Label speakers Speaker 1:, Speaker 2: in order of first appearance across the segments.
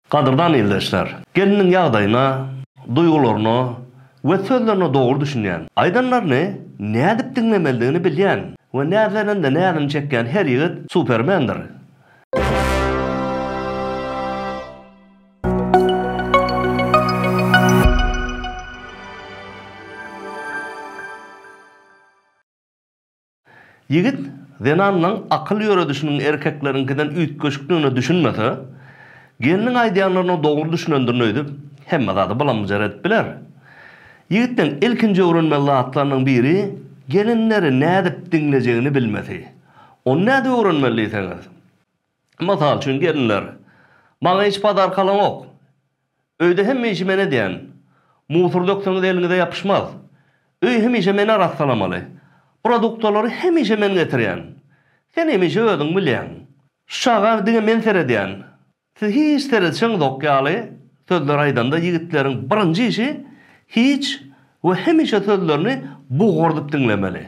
Speaker 1: Gadyrdan ildeşler! Gelniň ýagdaýyna, duýgularyna we sözlerine dogry düşünýän. Aýdanlaryny nädip diňlemelidigini bilýän we näzlenende näzini çekýän her ýigit supermendir. Ýigit zenanyň akyl ýöredişiniň erkekleriňkiden üýtgeşikdigine düşünmese, gelniň aýdýanlaryna dogry düşünendirin öýdüp, hemme zady bylam-byjar edip biler. Ýigitleň ilkinji öwrenmeli zatlarynyň biri gelinleri nädip diňlejegini bilmesi. Ony nädip öwrenmeli diýseňiz? Mysal üçin, gelinler, Maňa hiç padaarkalaňok. Öýde hemişe men edýän. Musur dökseňiz eliňize ýapyşmaz. Öýi hemişe men arassalamaly. Produktalary hemişe men getirýän. Sen hemişe özüň bilýäň. Şu çaga diňe men seredýän. Siz hiç seredişeňizok ýaly sözleri aýdanda ýigitleriň birinji işi hiç we hemişe sözlerini bugurdyp diňlemeli.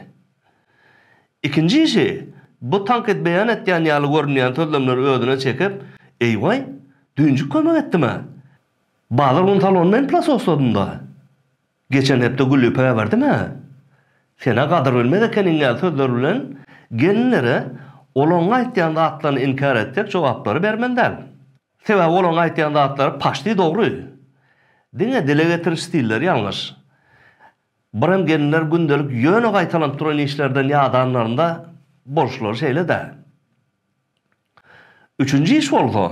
Speaker 1: Ikinji işi, bu tankyt beýan etýän ýaly görünýän sözlemleri özüne çekip, Eý-waý, düýnjik kömek etdim-ä! Bazar gün salonda hem plasosladym-da! Geçen hepde gülüpe äberdim-ä! Sen-ä gadyr bilmez ekeniň ýaly sözler bilen gelinlere olaryň aýtýan zatlaryny inkär etjek jogaplary bermeli däl. Sebäbi olaryň aýtýan zatlary paşti dogry. Diňe dile getiriş stilleri ýalňyş. Birem gelinler gündelik ýöne gaýtalanyp duran işlerden ýadanlarynda bolşlary şeýle-dä. Üçünji iş bolsa,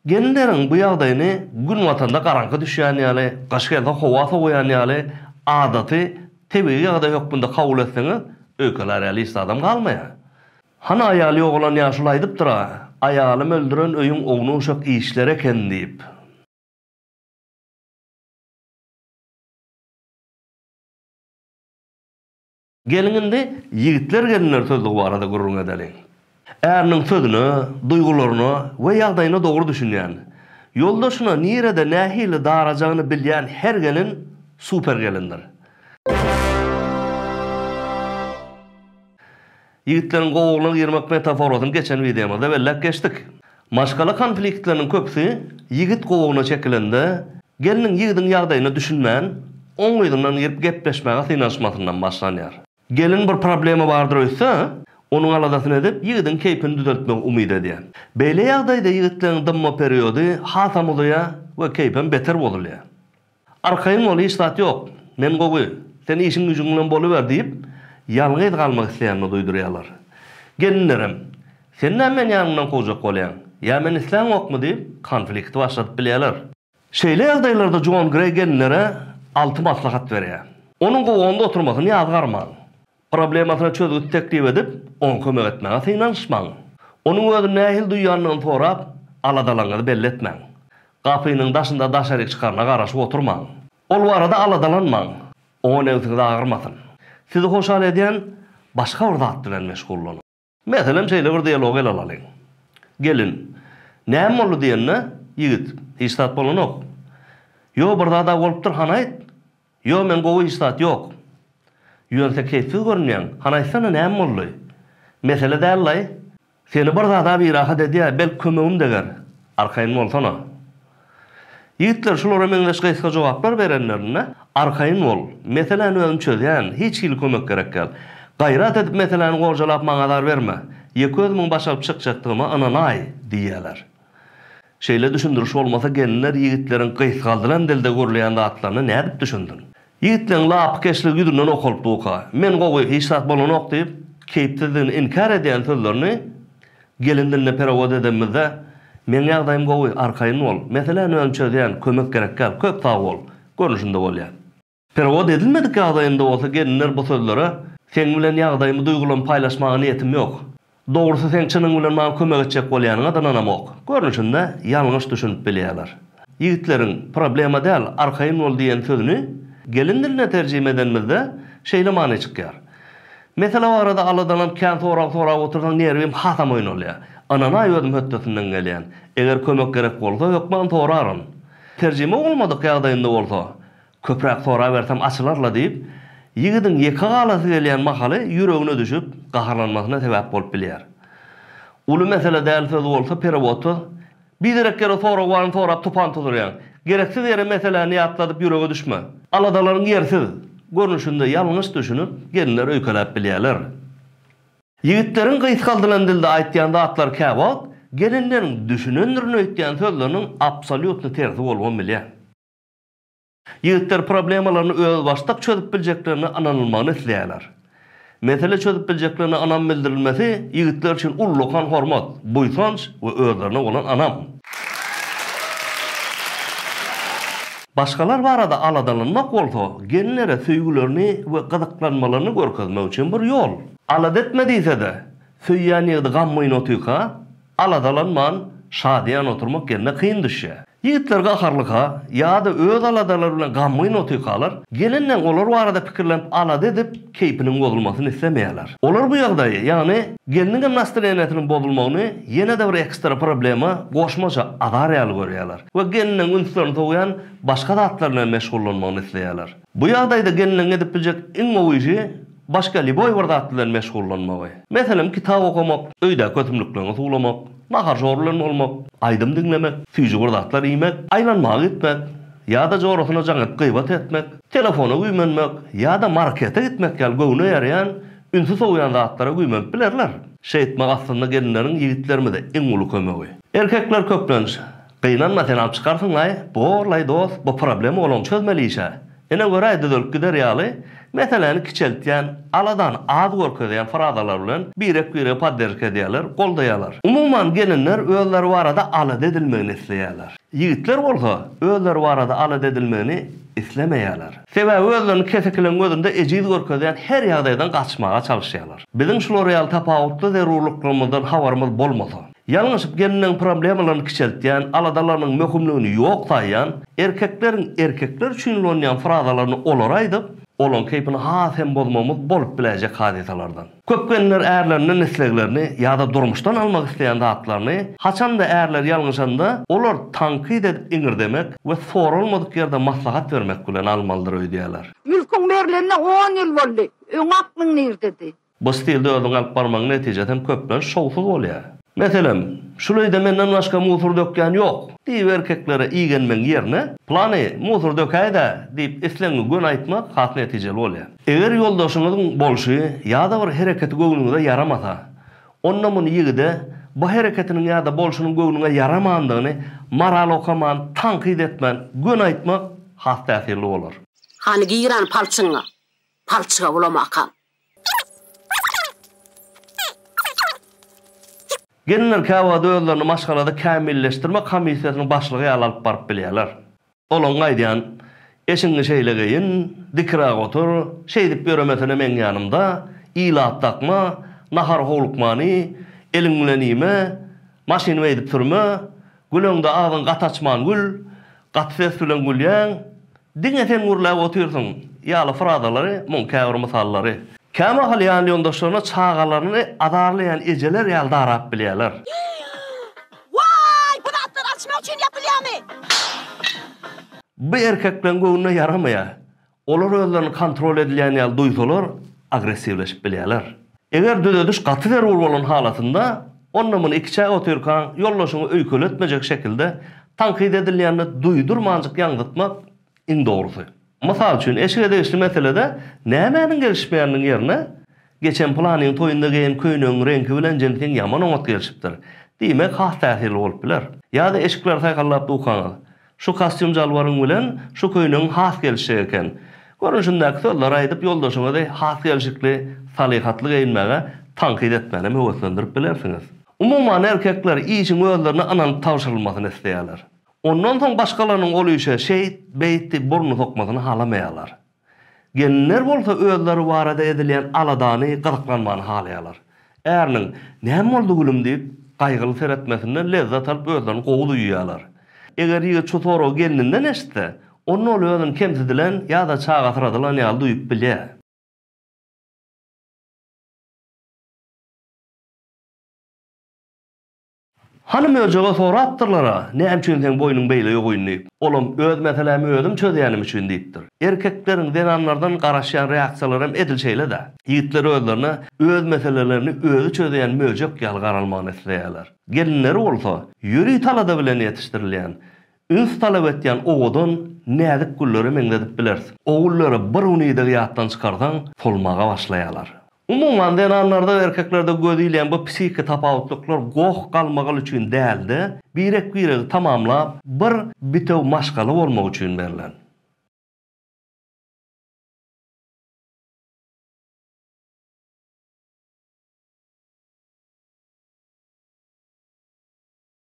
Speaker 1: gelinleriň bu ýagdaýyny günbatanda garaňky düşýän ýaly, gyş gelse howa sowaýan ýaly adaty, tebigy ýagdaý hökmünde kabul etseňiz, öýkelär ýaly iş zadam galmaýar. Hany aýaly ýogalan ýaşuly aýdypdyr-a, Aýalym öldüren öýüň ownuşak işleri eken diýip. Geliň indi ýigitler-gelinler sözlügi barada gürrüň edeliň. Äriniň sözüne, duýgularyna we ýagdaýyna dogry düşünýän, ýoldaşyna nirede nähili darajagyny bilýän her gelin super gelindir. Ýigitleriň gowulygyna girmek metaforasyny geçen wideomyzda belläp geçdik. Maşgala konfliktleriniň köpüsi ýigit gowugyna çekilende, gelniň ýigidiň ýagdaýyna düşünmän, oň yzyndan girip gepleşmäge synanyşmasyndan başlanýar. Gelin bir problema bardyr öýtse, onuň aladasyny edip, ýigidiň keýpini düzeltmegi umyt edýär. Beýle ýagdaýda ýigitleriň dymma periody hasam uzaýar we keýpem beter bozulýar. Arkaýyn bol, hiç zat ýok. Men gowy. Sen işiň-güjüň bilen boluber diýip, ýalňyz galmak isleýänini duýdurýarlar. Gelinlerem, Sen näme meni ýanyňdan kowjak bolýaň? Ýa men isläňokmy? diýip, konflikti başladyp bilýärler. Şeýle ýagdaýlarda Jon Greý gelinlere alty maslahat berýär. Onuň gowagynda oturmasyny ýazgarmaň. Problemasyna çözgüt teklip edip, oňa kömek etmäge synanyşmaň. Onuň özüni nähili duýýandygyny sorap, aladalaryňyzy belli etmäň. Gapynyň daşynda daşaryk çykaryna garaşyp oturmaň. Ol barada aladalanmaň, oňa nebsiňiz agyrmasyn. Sizi hoşal edýän başga bir zat bilen meşgullanyň. Meselem, şeýle bir dialog ele alalyň. Gelin, Näme boldy diýende, ýigit, Hiç zat bolanok. Ýo, bir zad-a bolupdyr, hany aýt? Ýo, men gowy, hiç zat ýok. Ýöne-se keýpsiz görünýäň, hany aýtsana, näme boldy? Mesele däl-laý. Seni bir zad-a birahat edýär, belki kömegim deger. Arkaýyn bolsana. Ýigitler şulara meňzeş gysga jogaplar berenlerinde, Arkaýyn bol, meseläni özüm çözýän, hiç hili kömek gerek däl. Gaýrat edip meseläni gorjalap maňa azar berme. Ýeke özümiň baş alyp çykjakdygyma ynanaý, diýýärler. Şeýle düşündiriş bolmasa gelinler ýigitleriň gysgaldylan dilde gürleýän zatlaryna nädip düşünsin? Ýigitleň lapykeşligi ýüzünden okalypdyka. Men gowy, hiç zat bolanok diýip, keýpsizligini inkär edýän sözlerini gelin diline perewod edenimizde, Meň ýagdaýym gowy, arkaýyn bol. Meseläni özüm çözýän, kömek gerekgäl. Köp sag bol. Görnüşinde bolýar. Perewod edilmedik ýagdaýynda bolsa gelinler bu sözlere, Seň bilen ýagdaýymy duýgulamy paýlaşmaga niýetim ýok. Dogrusy seň çynyň bilen maňa kömek etjek bolýanyňa da ynanamok. Görnüşinde ýalňyş düşünip bilýärler. Ýigitleriň Problema däl, arkaýyn bol diýen sözüni gelin diline terjime edenimizde şeýle many çykýar. Mesele barada aladalanp kän sorag sorap otursaň nerwim hasam oýnalýar. Ynanaý özüm hötdesinden gelýän. Eger kömek gerek bolsa hökman soraryn. Terjime bolmadyk ýagdaýynda bolsa Köpräk sorabersem açylar-la diýip, ýigidiň ýeke galasy gelýän mahaly ýüregine düşüp, gaharlanmasyna sebäp bolup bilýär. Uly mesele däl söz bolsa perewodda, Biderek ýere sorag baryny sorap tupan tuzurýaň. Gereksiz ýere meseläni ýatladyp ýürege düşme. Aladalaryň ýersiz görnüşinde ýalňyş düşünip, gelinler öýkeläp bilýärler. Ýigitleriň gysgaldylan dilde aýtýan zatlary käwagt gelinleriň düşünendirin öýtýän sözleriniň absolýutny tersi bolubam bilýär. Ýigitler problemalaryny özbaşdak çözüp biljeklerine ynanylmagyny isleýärler. Mesele çözüp biljeklerine ynam bildirilmesi ýigitler üçin ullakan hormat, buýsanç we özlerine bolan ynam. Başgalar barada aladalanmak bolsa, gelinlere söýgülerini we gyzyklanmalaryny görkezmek üçin bir ýol. Alada etme diýse-de, söýýän ýigidi gammyny otyka, Aladalanman, şadyýan oturmak gelne kyn düşýär. Ýigitler gaharlyka ýa-da öz aladalary bilen gamgyn otykalar, gelinleň olar barada pikirlenip alada edip, keýpiniň bozulmasyny islemeýärler. Olar bu ýagdaýy, ýagny gelniňem nastreniýesiniň bozulmagyny ýene-de bir ekstra problema, goşmaça azar ýaly görýärler we geliniň ünslerini sowýan başga zatlar bilen meşgullanmagyny isleýärler. Bu ýagdaýda gelniň edip biljek iň gowy işi başga lýuboý bir zat bilen meşgullanmagy. Meselem, kitap okamak, öýdäki ösümlikleňi suwlamak, nahar-şor bilen bolmak, aýdym diňlemek, süýji bir zatlar iýmek, aýlanmaga gitmek ýa-da jorasyna jaň edip gybat etmek, telefona güýmenmek ýa-da markete gitmek ýaly göwne ýaraýan, ünsi sowýan zatlara güýmenip bilerler. Şeýtmek aslynda gelinleriň ýigitlerimize iň uly kömegi. Erkekler köplenç Gynanma sen alyp çykarsyňlaý. Borlaý dost bu problema bolan çözmeli işe. Ine göräý düzelip gider ýaly meseläni kiçeltýän, aladany az görkezýän frazalar bilen birek biregi podderjka edýärler, goldaýarlar. Umuman gelinler özleri barada alada edilmegini isleýärler. Ýigitler bolsa özleri barada alada edilmegini islemeýärler. Sebäbi özlerini kesekileň gözünde ejiz görkezýän her ýagdaýdan gaçmaga çalyşýarlar. Biziň şular ýaly tapawutly zerurlyklarymyzdan habarymyz bolmasa. Ýalňyşyp gelniň problemalaryny kiçeltýän, aladalarynyň möhümligini ýok saýýan, erkekleriň erkekler üçin ulanýan frazalaryny olara aýdyp, olaryň keýpini has hem bozmagymyz bolup biläýjek hadysalardan. Köp gelnler ärlerinden isleglerini ýa-da durmuşdan almak isleýän zatlaryny, haçan-da ärleri ýalňyşanda, olar tankyt edip iňirdemek we soralmadyk ýerde maslahat bermek bilen almalydyr öýdýärler. Mülküň berlenine
Speaker 2: on ýyl boldy. Öň aklyň nirdedi? Bu stilde özüňi
Speaker 1: alyp barmagyň netijesi hem köplenç şowsuz bolýar. Meselem, Şul öýde menden başga musur dökýän ýok! diýip erkeklere igenmegiň ýerine, Plany, musur dökäýdä! diýip islegiňi göni aýtmak has netijeli bolýar. Eger ýoldaşyňyzyň bolşy ýa-da bir hereketi göwnüňize ýaramasa, onda muny ýigide bu hereketiniň ýa-da bolşunyň göwnüňe ýaramandygyny moral okaman, tankyt etmän, göni aýtmak has täsirli bolar. Hany giran
Speaker 3: palçygyňa, palçyga ulamakaň!
Speaker 1: Gelinler käwagt özlerini maşgalada kämilleşdirmek komissiýasynyň başlygy ýaly alyp baryp bilýärler. Olaň aýdýan, Eşiňi şeýle geýin, dikiräk otur, şeýdip ýöremesene meň ýanymda, ilat dakma, nahar howlukmany, eliň bilen iýme, maşyny beýdip sürme, Güleňde agzyň gaty açman gül, gaty ses bilen gülýäň, diňe sen gürläp otyrsyň ýaly frazalary, muň käbir mysallary, kämahal ýanýoldaşlaryna çagalaryny azarlaýan ejeler ýaly darap bilýärler.
Speaker 3: Waý, bu zatlar alçymak üçin ýapylýamy?
Speaker 1: Bu erkekleň göwnüne ýaramaýar. Olar özlerini kontrol edilýän ýaly duýsalar, agressiwleşip bilýärler. Eger düzediş gaty zerur bolan halatynda, onda muny ikiçäk otyrkaň, ýoldaşyňy öýkeletmejek şekilde, tankyt edilýände duýdurmanjyk ýaňzytmak iň dogrusy. Mysal üçin, eşige degişli meselede nämäniň gelişmeýäniniň ýerine, Geçen pylanyň toýunda geýen köýnegiň reňki bilen jinsiň ýaman oňat gelişipdir. Diýmek has täsirli bolup biler. Ýa-da eşikleri saýhallap dukaňyz. Şu kostýum-jalbaryň bilen şu köýnegiň has gelişjek eken. Görnüşindäki sözleri aýdyp, ýoldaşyňyzy has gelşikli, salyhatly geýinmäge tankyt etmän hem höweslendirip bilersiňiz. Umuman, erkekler işiň özlerine ynanyp tabşyrylmasyny isleýärler. Ondan soň başgalarynyň ol işe şeýt, beýt diýip burnuny sokmasyny halamaýarlar. Gelinler bolsa özleri barada edilýän aladany gyzyklanmany halaýarlar. Äriniň, Näme boldy gülüm? diýip, gaýgyly seretmesinden lezzet alyp özlerini gowy duýýarlar. Eger ýigit şu soragy gelninden eşitse, onda ol özüni kemsidilen ýa-da çagasyradylan ýaly duýup bilýär. Hany möjege sorapdyrlar-a, näme üçin seň boýnuň beýle ýogyn diýip. Olam, Öz meselämi özüm çözýänim üçin diýipdir. Erkekleriň zenanlardan garaşýan reaksiýalaram edil şeýle-dä. Ýigitler özlerine öz meselelerini özi çözýän möjek ýaly garalmagyny isleýärler. Gelinleri bolsa, ýöri talada bilen ýetişdirilýän, üns talap etýän owadan, näzik güllere meňzedip bileris. O güllere bir gün idegi ýatdan çykarsaň, solmaga başlaýarlar. Umuman, zenanlarda we erkeklerde göz ilýän bu psihiki tapawutlyklar goh-galmagal üçin däl-de, birek-biregi tamamlap, bir bitew maşgala bolmak üçin berlen.